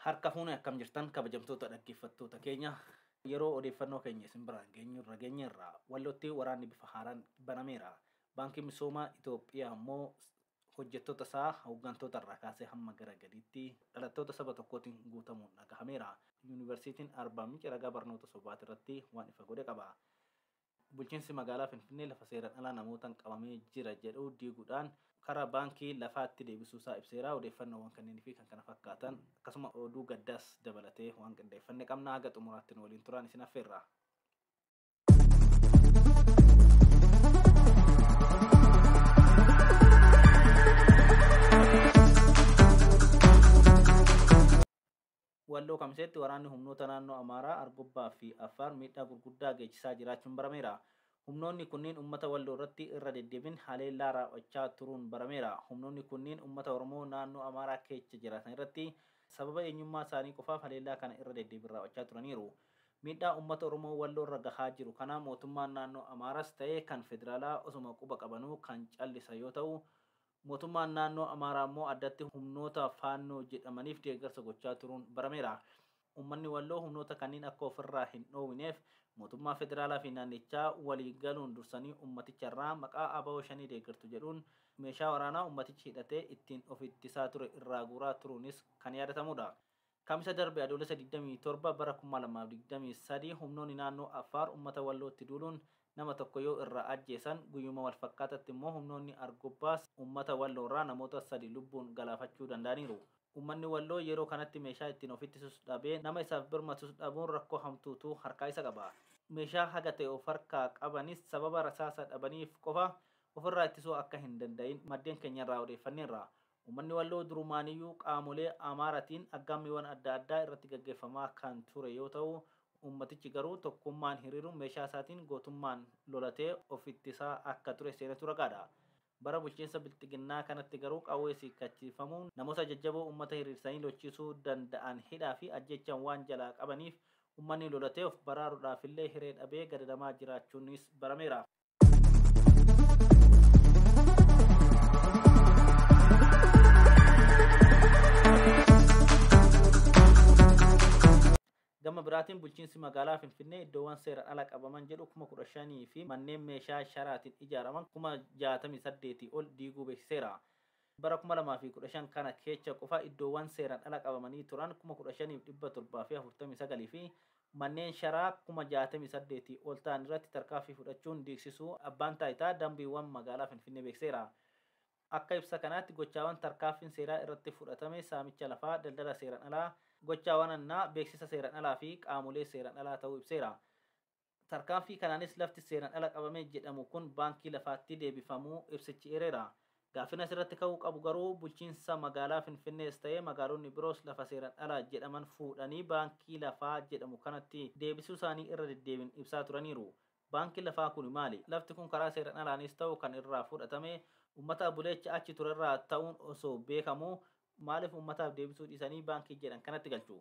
harka fuune akkam jirtan kabajamtoota dhaggeeffattoota keenya yeroo odeeffannoo keenya isin biraan geenyu irra geenye irraa wallootti waraanni bifa haaraan banameera baankiin misoomaa Itoophiyaa immoo hojjettoota isaa, hoggantoota irraa kaasee hamma gara gadiitti dhalattoota saba tokkootiin guutamuun dhagahameera. Yuunivarsiitiin Arbaa Minci ragaa barnoota sobaati irratti waan ifa godhe qaba. Bulchiinsi magaalaa Finfinnee lafa seeran alaa namootan qabamee jira jedhu diigudhaan karaa baankii lafaatti deebisuu isaa ibseera. Odeeffannoowwan kanneen fi kan kana fakkaatan akkasuma oduu gaddaas dabalatee waan qindeeffanne qabna. Haga xumuraatti nu waliin turaan isin affeerra. Walloo Kamiseetti waraanni humnoota naannoo Amaaraa, Argobbaa fi Affaar miidhaa gurguddaa geessisaa jiraachuun barameera. Humnoonni kunniin uummata Walloo irratti irra deddeebiin haleellaa raawwachaa turuun barameera. Humnoonni kunniin uummata Oromoo naannoo Amaaraa keessa jiraatan irratti sababa eenyummaa isaanii qofaaf haleellaa kana irra deddeebiin raawwachaa turaniiru. Miidhaa uummata Oromoo Walloorra gahaa jiru kana mootummaan naannoo Amaaras ta'ee kan federaalaa osuma quba qabanuu kan callisa yoo ta'u, mootummaan naannoo Amaaraa immoo addatti humnoota Faannoo jedhamaniif deeggarsa gochaa turuun barameera. Uummanni Walloo humnoota kanniin akka ofirraa hin dhoowwineef mootummaa federaalaa fi naannichaa walii galuun dursanii uummaticha irraa maqaa abo Shanee deeggartu jedhuun meeshaa waraanaa uummatichi hidhatee ittiin of ittisaa ture irraa guuraa turuunis kan yaadatamuudha. Kamisa darbe Adoolessa 27 bara 2023 humnoonni naannoo Affaar ummata Wallootti duuluun nama tokko yoo irraa ajjeesan, guyyuma walfakkaatatti immoo humnoonni Argobbaas ummata Walloorraa namoota sadi lubbuun galaafachuu danda'aniiru. Ummanni Walloo yeroo kanatti meeshaa ittiin of ittisus dhabee, nama isaaf birmatus dhabuun rakkoo hamtuutu harkaa isa qaba. Meeshaa haga ta'e of harkaa qabanis sababa rasaasa dhabaniif qofa ofirraa ittisuu akka hin danda'in maddeen keenyarraa odeeffanneerra. Ummanni Walloo durumaaniyyuu qaamolee Amaaratiin aggaammiiwwan adda addaa irratti gaggeeffamaa kan ture yoo ta'u, ummatichi garuu tokkummaan hiriiruun meeshaa isaatiin gootummaan lolatee of ittisaa akka ture seenatu ragaadha. Bara bulchiinsa Bilxiginnaa kanatti garuu qawwees hiikkachiifamuun namoota jajjaboo ummata hiriirsanii lolchiisuu danda'an hidhaa fi ajjeechaan waan jalaa qabaniif ummanni lolatee of baraaruudhaafillee hiree dhabee gadadamaa jiraachuunis barameera. gama biraatiin bulchiinsi magaalaa finfinnee iddoowwan seeraan ala qabaman jedhu kuma kudha shanii fi manneen meeshaa sharaatiin ijaaraman kuma jaatamii saddeetii ol diiguu beeksiseera. bara kuma lamaa fi kudha shan kana keecha qofa iddoowwan seeraan ala qabamanii turan kuma kudha shaniif dhibba torbaa fi afurtamii sagalii fi manneen sharaa kuma 68 ol ta'an irratti tarkaanfii fudhachuun diigsisuu Abbaan Taayitaa Dambiiwwan Magaalaa Finfinnee beeksiseera. Akka ibsa kanaatti gochaawan tarkaanfiin seeraa irratti fudhatame saamicha lafaa, daldala seeran alaa, gochaawan hannaa, beeksisa seeran alaa fi qaamolee seeran alaa ta'uu ibseera. Tarkaanfii kanaanis lafti seeran ala qabame jedhamu kun baankii lafaatti deebifamuu ibsichi eereera. Gaaffiin asirratti ka'uu qabu garuu bulchiinsa magaalaa Finfinnees ta'ee magaalonni biroos lafa seeran ala jedhaman fuudhanii baankii lafaa jedhamu kanatti deebisuusaanii irra deddeebiin ibsaa turaniiru. Baankiin lafaa kuni maali? Lafti kun karaa seeran alaanis ta'u kan irraa fudhatame ummata buleecha achi turerraa ta'uun osoo beekamuu Maaliif uummataaf deebisuu dhiisanii baankii jedhan kanatti galchu?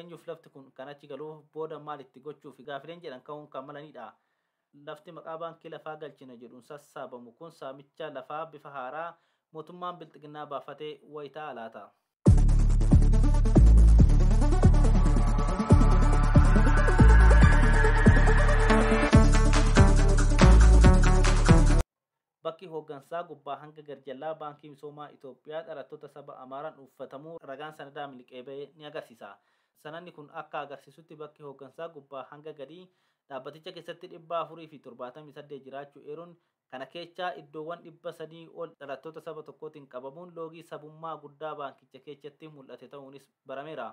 Eenyuuf lafti kun kan achi galu? Booda maal itti gochuufi? Gaafileen jedhan ka'uun kan malanidha. Lafti maqaa baankii lafaa galchina jedhuun sassaabamu kun saamicha lafaa bifa haaraa mootummaan bilxiginnaa baafate wayi ta'a laata? Bakki hooggansaa gubbaa hanga garjallaa Baankii Misoomaa Itoophiyaa dhalattoota saba Amaaraan uuffatamuu ragaan sanadaa miliqee ba'e ni agarsiisa. Sanadni kun akka agarsiisutti bakki hooggansaa gubbaa hanga gadii dhaabbaticha keessatti 478 jiraachuu eeruun, kana keechaa iddoowwan 300 ol dhalattoota saba tokkootiin qabamuun loogii sabummaa guddaa baankicha keechatti mul'ate ta'uunis barameera.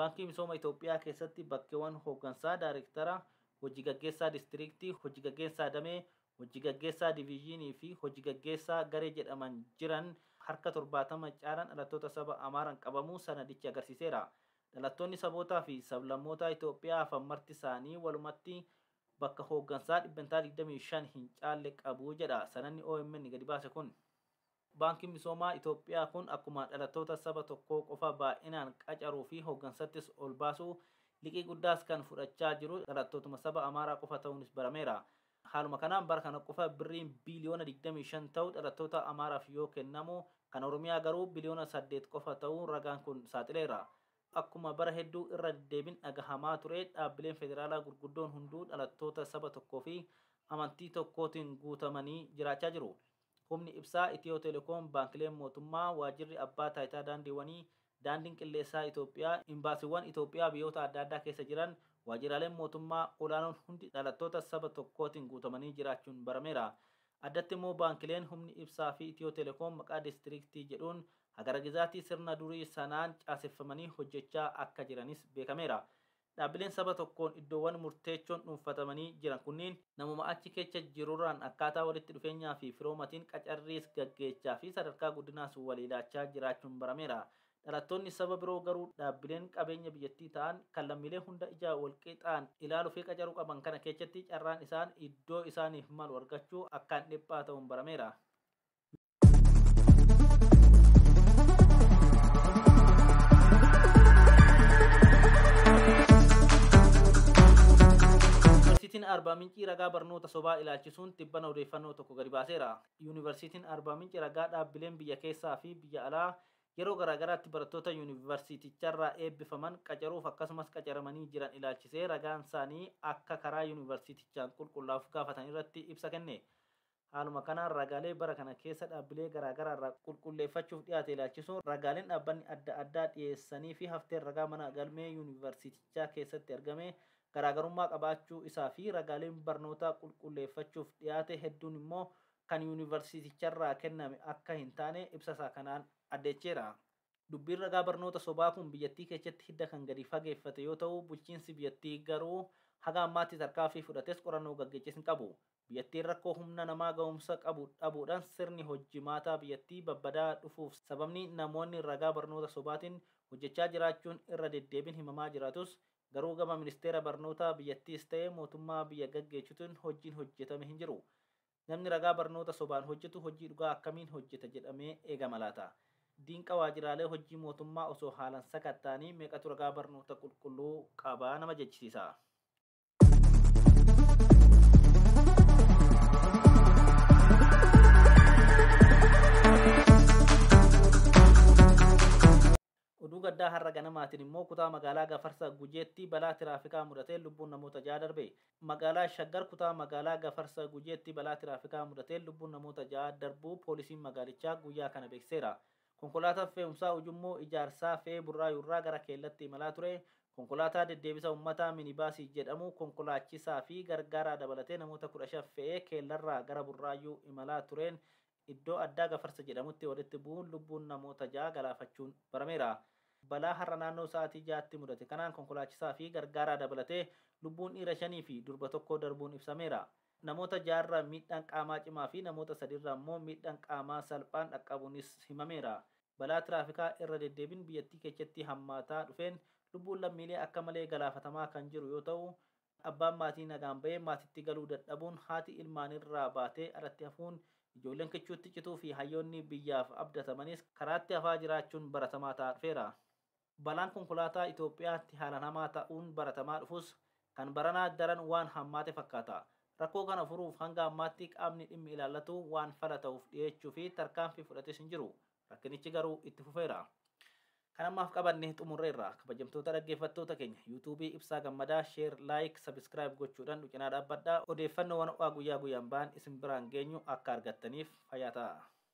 Baankii Misooma Itoophiyaa keessatti bakkewan hooggansaa, daarektara, hojigaggeessaa distiriiktii, hojigaggeessaa damee, Hojji gaggeessaa diviizhiinii fi hojji gaggeessaa garee jedhaman jiran harka 70 caalan dhalattoota saba Amaaraan qabamuu sanadichi agarsiiseera. Dhalattoonni sabootaa fi sablammootaa Itoophiyaa hafan marti isaanii walumatti bakka hooggansaa dhibbentaa 25 hin caalle qabu jedha sanadni omn gadi baase kun. Baankiin Misoomaa Itoophiyaa kun akkuma dhalattoota saba tokkoo qofa baay'inaan qacaruu fi hoggansattis ol baasuu, liqii guddaas kan fudhachaa jiru dhalattootuma saba Amaaraa qofa ta'uunis barameera. Haaluma kanaan bara kana qofa Birriin biiliyoona 25 ta'u dhalattoota Amaaraaf yoo kennamu, kan Oromiyaa garuu biliyoona 8 qofa ta'uu ragaan kun saaxileera. Akkuma bara hedduu irra deddeebin dhagahamaa ture dhaabbileen federaalaa gurguddoon hunduu dhalattoota saba tokkoo fi amantii tokkootiin guutamanii jiraachaa jiru. Humni Ibsaa Itiyoo Telekoom, Baankileen Mootummaa, Waajjirri Abbaa Taayitaa Daandiiwwanii, Daandiin Qilleessaa Itoophiyaa, Imbaasiiwwan Itoophiyaa biyyoota adda addaa keessa jiran, waajjiraaleen mootummaa olaanoon hundi dhalattoota saba tokkootiin guutamanii jiraachuun barameera. Addatti immoo baankileen, humni ibsaa fi Itiyoo Telekoom maqaa diistiriiktii jedhuun hagaragizaatii sirna durii sanaan caaseffamanii hojjechaa akka jiranis beekameera. Dhaabbileen saba tokkoon iddoowwan murteechoon dhuunfatamanii jiran kunniin namuma achi keecha jirurraan akkaataa walitti dhufeenyaa fi firoomatiin qacarriis gaggeechaa fi sadarkaa guddinaas walii laachaa jiraachuun barameera. Dhalattoonni saba biroo garuu dhaabbileen qabeenya biyyattii ta'an kan lammiilee hunda ija walqixaan ilaalu fi qacaru qaban kana keechatti carraan isaan iddoo isaaniif malu argachuu akkaan dhiphaa ta'uun barameera. Yuunivarsiitiin Arbaa Mincii ragaa barnoota sobaa ilaalchisuun tibbana odeeffannoo tokko gadi baaseera. Yuunivarsiitiin Arbaa Mincii ragaa dhaabbileen biyya keessaa fi biyya alaa yeroo garaagaraatti barattoota yuunivarsiiticharraa eebbifaman qacaruuf akkasumas qacaramanii jiran ilaalchisee ragaan isaanii akka karaa yuunivarsiitichaan qulqullaa'uuf gaafatan irratti ibsa kenne. Haaluma kanaan ragaalee bara kana keessa dhaabbilee garaa garaa irraa qulqulleeffachuuf dhiyaate ilaalchisuun ragaaleen dhaabbanni adda addaa dhiyeessanii fi hafteen ragaa mana galmee Yuunivarsiitichaa keessatti argamee garaagarummaa qabaachuu isaa fi ragaaleen barnootaa qulqulleeffachuuf dhiyaate hedduun immoo kan Yuunivarsiiticharraa kenname akka hin taane ibsasaa kanaan addeecheera. Dubbiin ragaa barnoota sobaa kun biyyattii keechatti hidda kan gadi fageeffate yoo ta'u, bulchiinsi biyyattii garuu haga ammaatti tarkaanfii fudhates qorannoo gaggeeches hin qabu. Biyyattiin rakkoo humna namaa gahumsa qabu dhabuudhaan sirni hojjimaataa biyyattii babbadaa'aa dhufuuf sababni namoonni ragaa barnoota sobaatiin hojjechaa jiraachuun irra deddeebiin himamaa jiraatus garuu gama ministeera barnootaa biyyattiis ta'ee mootummaa biyya gaggeechutiin hojjiin hojjetame hin jiru. Namni ragaa barnoota sobaan hojjetu hojjii dhugaa akkamiin hojjeta jedhamee eegama laata? Diinqa waajiraalee hojjii mootummaa osoo haalan sakatta'anii meeqatu ragaa barnoota qulqulluu qaba nama jechisiisa? Oduu gaddaa har'a ganamaatiin immoo kutaa magaalaa Gafarsa Gujeetti balaa tiraafikaa mudateen lubbuun namoota ja'a darbe. Magaalaa Shaggar kutaa magaalaa Gafarsa Gujeetti balaa tiraafikaa mudateen lubbuun namoota ja'a darbuu poolisiin magaalichaa guyyaa kana beeksiseera. Konkolaataan fe'umsaa Ujummoo Ijaarsaa fe'ee Burraayuurraa gara Keellatti imalaa ture konkolaataa deddeebisa ummataa minibaasii jedhamu konkolaachisaa fi gargaaraa dabalatee namoota 15 fe'ee Keellarraa gara Burraayuu imalaa tureen iddoo addaa Gafarsa jedhamutti walitti bu'uun lubbuun namoota 6 galaafachuun barameera. Balaa har'a naannoo sa'aatii 6tti mudate kanaan konkolaachisaa fi gargaaraa dabalatee lubbuun dhiira 5 fi durba 1 darbuun ibsameera. Namoota ja'arra miidhaan qaamaa cimaa fi namoota sadiirra ammoo miidhaan qaamaa salphaan dhaqqabuunis himameera. Balaa tiraafikaa irra deddeebin biyyattii keechatti hammaataa dhufeen lubbuun lammiilee akka malee galaafatamaa kan jiru yoo ta'u, abbaan maatii nagaan ba'ee maatitti galuu dadhabuun, haati ilmaaniirraa baatee alatti hafuun, ijoolleen kichuutti cituu fi hayyoonni biyyaaf abdatamanis karaatti hafaa jiraachuun baratamaa ta'aa dhufeera. Balaan konkolaataa Itoophiyaatti haalaan hamaa ta'uun baratamaa dhufus, kan baranaa daran waan hammaate fakkaata. Rakkoo kana furuuf hanga ammaatti qaamni dhimmi ilaallatu waan fala ta'uuf dhiyeechuu fi tarkaanfii fudhates hin jiru. Rakkinichi garuu itti fufeera. Kan ammaaf qabanne xumurreerra. Kabajamtoota dhaggeeffattoota keenya, YouTube Ibsaa Gammadaa share, like, subscribe gochuudhan nu cinaa dhaabbadhaa. Odeeffannoowwan ho'aa guyyaa guyyaan bahan isin biraan geenyu akka argattaniif fayyaa ta'aa.